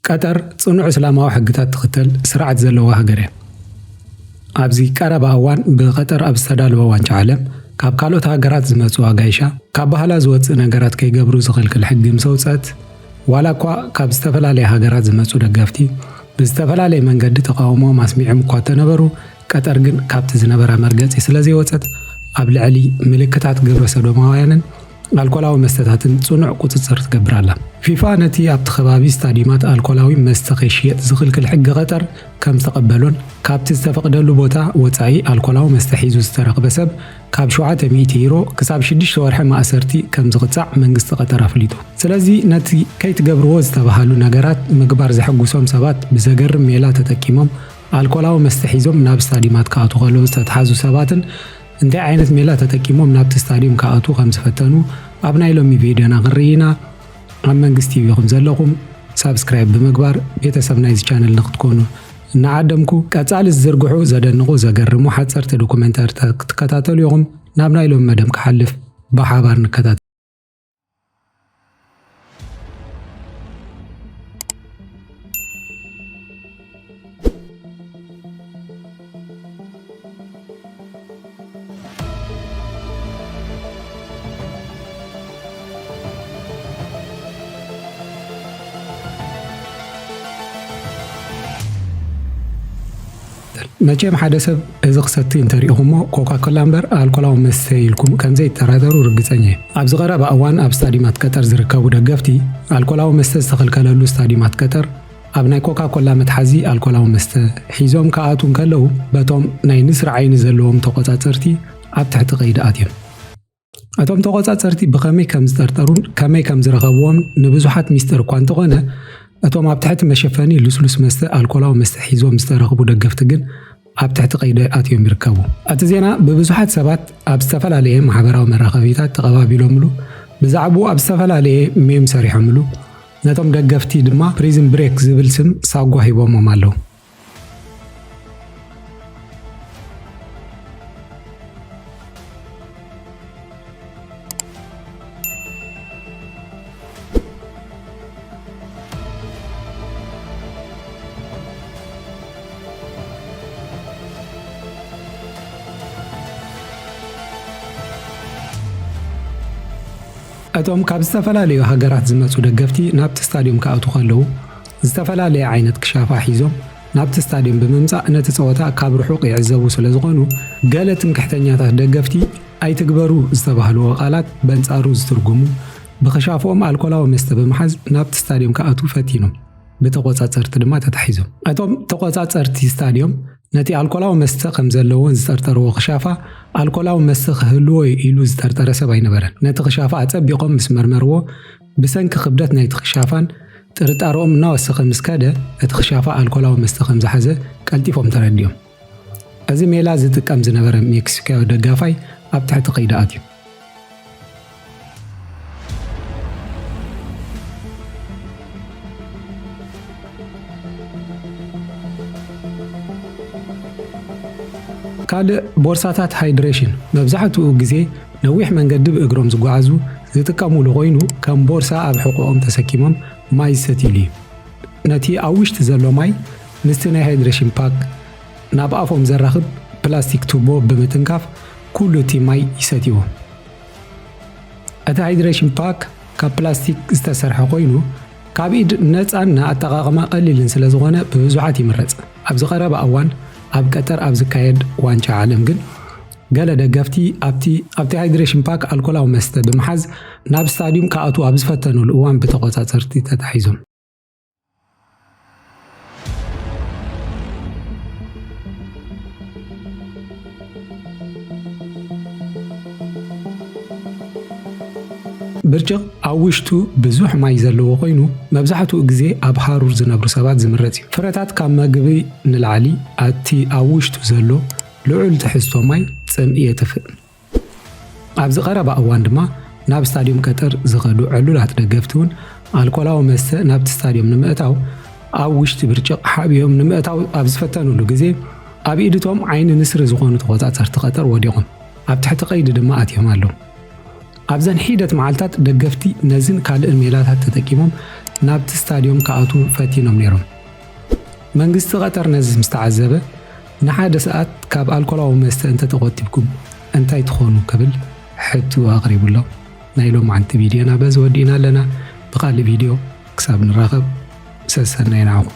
ቀጠር ጽኑዕ እስላማዊ ሕግታት ትኽተል ስርዓት ዘለዋ ሃገር እያ። ኣብዚ ቀረባ እዋን ብቐጠር ኣብ ዝተዳለወ ዋንጫ ዓለም ካብ ካልኦት ሃገራት ዝመጹ ኣጋይሻ ካብ ባህላ ዝወጽእ ነገራት ከይገብሩ ዝኽልክል ሕጊ ምስ ኣውጽአት ዋላ እኳ ካብ ዝተፈላለያ ሃገራት ዝመጹ ደገፍቲ ብዝተፈላለየ መንገዲ ተቓውሞኦም ኣስሚዖም እኳ እተነበሩ፣ ቀጠር ግን ካብቲ ዝነበራ መርገጺ ስለዘይወጸት ኣብ ልዕሊ ምልክታት ግብረሰዶማውያንን ኣልኮላዊ መስተታትን ጽኑዕ ቁጽጽር ትገብር ኣላ። ፊፋ ነቲ ኣብቲ ከባቢ ስታድዩማት ኣልኮላዊ መስተ ከይሽየጥ ዝኽልክል ሕጊ ቀጠር ከምዝተቐበሎን ካብቲ ዝተፈቕደሉ ቦታ ወጻኢ ኣልኮላዊ መስተ ሒዙ ዝተረኽበ ሰብ ካብ ሸውዓተ ሚእቲ ዩሮ ክሳብ ሽዱሽተ ወርሒ ማእሰርቲ ከም ዝቕጻዕ መንግስቲ ቐጠር ኣፍሊጡ። ስለዚ ነቲ ከይትገብርዎ ዝተበሃሉ ነገራት ምግባር ዘሐጉሶም ሰባት ብዘገርም ሜላ ተጠቂሞም ኣልኮላዊ መስተ ሒዞም ናብ ስታድዩማት ክኣትዉ ከለዉ ዝተትሓዙ ሰባትን እንታይ ዓይነት ሜላ ተጠቂሞም ናብቲ ስታድዩም ክኣትዉ ከም ዝፈተኑ ኣብ ናይ ሎሚ ቪድዮና ክንርኢ ኢና። ኣብ መንግስት ቲቪ ኢኹም ዘለኹም ሳብስክራይብ ብምግባር ቤተሰብ ናይዚ ቻነል ንክትኮኑ እናዓደምኩ ቀጻሊ ዝዝርግሑ ዘደንቑ ዘገርሙ ሓጸርቲ ዶኩመንታሪታት ክትከታተሉ ኢኹም ናብ ናይ ሎም መደብ ክሓልፍ ብሓባር ንከታተል መቸም ሓደ ሰብ እዚ ክሰቲ እንተሪኢኹሞ ኮካኮላ እምበር ኣልኮላዊ መስተ ኢልኩም ከምዘይተራደሩ ርግፀኛ እየ። ኣብዚ ቀረባ እዋን ኣብ ስታዲማት ቀጠር ዝርከቡ ደገፍቲ ኣልኮላዊ መስተ ዝተኸልከለሉ ስታዲማት ቀጠር ኣብ ናይ ኮካ ኮላ መትሓዚ ኣልኮላዊ መስተ ሒዞም ክኣትዉ እንከለዉ በቶም ናይ ንስሪ ዓይኒ ዘለዎም ተቖጻጸርቲ ኣብ ትሕቲ ቀይዲ ኣትዮም። እቶም ተቖጻጸርቲ ብኸመይ ከም ዝጠርጠሩን ከመይ ከም ዝረኸብዎምን ንብዙሓት ሚስጥር እኳ እንተኾነ እቶም ኣብ ትሕቲ መሸፈኒ ልስሉስ መስተ ኣልኮላዊ መስተ ሒዞም ዝተረኽቡ ደገፍቲ ግን ኣብ ትሕቲ ቀይዲ ኣትዮም ይርከቡ። እቲ ዜና ብብዙሓት ሰባት ኣብ ዝተፈላለየ ማሕበራዊ መራኸቢታት ተቐባቢሎምሉ፣ ብዛዕብኡ ኣብ ዝተፈላለየ ሜም ሰሪሖምሉ፣ ነቶም ደገፍቲ ድማ ፕሪዝን ብሬክ ዝብል ስም ሳጓ ሂቦሞም ኣለዉ። እቶም ካብ ዝተፈላለዩ ሃገራት ዝመጹ ደገፍቲ ናብቲ ስታድዩም ክኣትዉ ከለዉ ዝተፈላለየ ዓይነት ክሻፋ ሒዞም ናብቲ ስታድየም ብምምጻእ ነቲ ጸወታ ካብ ርሑቕ ይዕዘቡ ስለዝኾኑ፣ ገለ ትምክሕተኛታት ደገፍቲ ኣይትግበሩ ዝተባህልዎ ቃላት በንጻሩ ዝትርጉሙ፣ ብክሻፎኦም ኣልኮላዊ መስተ ብምሓዝ ናብቲ ስታድየም ክኣትዉ ፈቲኖም ብተቖጻጸርቲ ድማ ተታሒዞም። እቶም ተቖጻጸርቲ ስታድየም፣ ነቲ ኣልኮላዊ መስተ ከምዘለዎን ዝጠርጠርዎ ክሻፋ፣ ኣልኮላዊ መስተ ክህልዎ'ዩ ኢሉ ዝጠርጠረ ሰብ ኣይነበረን። ነቲ ክሻፋ ኣጸቢቖም ምስ መርመርዎ፣ ብሰንኪ ክብደት ናይቲ ክሻፋን ጥርጣረኦም እናወሰኸ ምስ ከደ፣ እቲ ክሻፋ ኣልኮላዊ መስተ ከም ዝሓዘ ቀልጢፎም ተረዲኦም። እዚ ሜላ ዝጥቀም ዝነበረ ሜክሲኮያዊ ደጋፋይ ኣብ ትሕቲ ቀይዲ ኣትዩ። ካልእ ቦርሳታት ሃይድሬሽን መብዛሕትኡ ግዜ ነዊሕ መንገዲ ብእግሮም ዝጓዓዙ ዝጥቀሙሉ ኮይኑ ከም ቦርሳ ኣብ ሕቖኦም ተሰኪሞም ማይ ዝሰትዩሉ እዩ። ነቲ ኣብ ውሽጢ ዘሎ ማይ ምስቲ ናይ ሃይድሬሽን ፓክ ናብ ኣፎም ዘራኽብ ፕላስቲክ ቱቦ ብምትንካፍ ኩሉ እቲ ማይ ይሰትይዎ። እቲ ሃይድሬሽን ፓክ ካብ ፕላስቲክ ዝተሰርሐ ኮይኑ ካብ ኢድ ነፃን ንኣጠቓቕማ ቀሊልን ስለ ዝኾነ ብብዙሓት ይምረፅ። ኣብዚ ቀረባ እዋን ኣብ ቀጠር ኣብ ዝካየድ ዋንጫ ዓለም ግን ገለ ደገፍቲ ኣብቲ ኣብቲ ሃይድሬሽን ፓክ ኣልኮላዊ መስተ ብምሓዝ ናብ ስታድዩም ክኣትዉ ኣብ ዝፈተኑሉ እዋን ብተቖጻጸርቲ ተታሒዞም። ብርጭቕ ኣብ ውሽጡ ብዙሕ ማይ ዘለዎ ኮይኑ መብዛሕትኡ ግዜ ኣብ ሃሩር ዝነብሩ ሰባት ዝምረጽ እዩ። ፍረታት ካብ መግቢ ንላዕሊ ኣብቲ ኣብ ውሽጡ ዘሎ ልዑል ትሕዝቶ ማይ ጽምኢ የጥፍእ። ኣብዚ ቀረባ እዋን ድማ ናብ ስታድዩም ቀጠር ዝኸዱ ዕሉላት ደገፍቲ እውን ኣልኮላዊ መስተ ናብቲ ስታድዩም ንምእታው ኣብ ውሽጢ ብርጭቕ ሓቢኦም ንምእታው ኣብ ዝፈተንሉ ግዜ ኣብ ኢድ እቶም ዓይኒ ንስሪ ዝኾኑ ተቖጻጸርቲ ቀጠር ወዲቖም ኣብ ትሕቲ ቀይዲ ድማ ኣትዮም ኣለዉ። ኣብዘን ሒደት መዓልታት ደገፍቲ ነዝን ካልእን ሜላታት ተጠቂሞም ናብቲ ስታድዮም ክኣትዉ ፈቲኖም ነይሮም። መንግስቲ ቀጠር ነዚ ምስ ተዓዘበ ንሓደ ሰዓት ካብ ኣልኮላዊ መስተ እንተተቖጢብኩም እንታይ ትኾኑ ክብል ሕቱ ኣቕሪቡ ኣሎ። ናይ ሎምዓንቲ ቪድዮና በዚ ወዲእና ኣለና። ብኻልእ ቪድዮ ክሳብ ንራኸብ ሰሰናዩ ንዓኹም።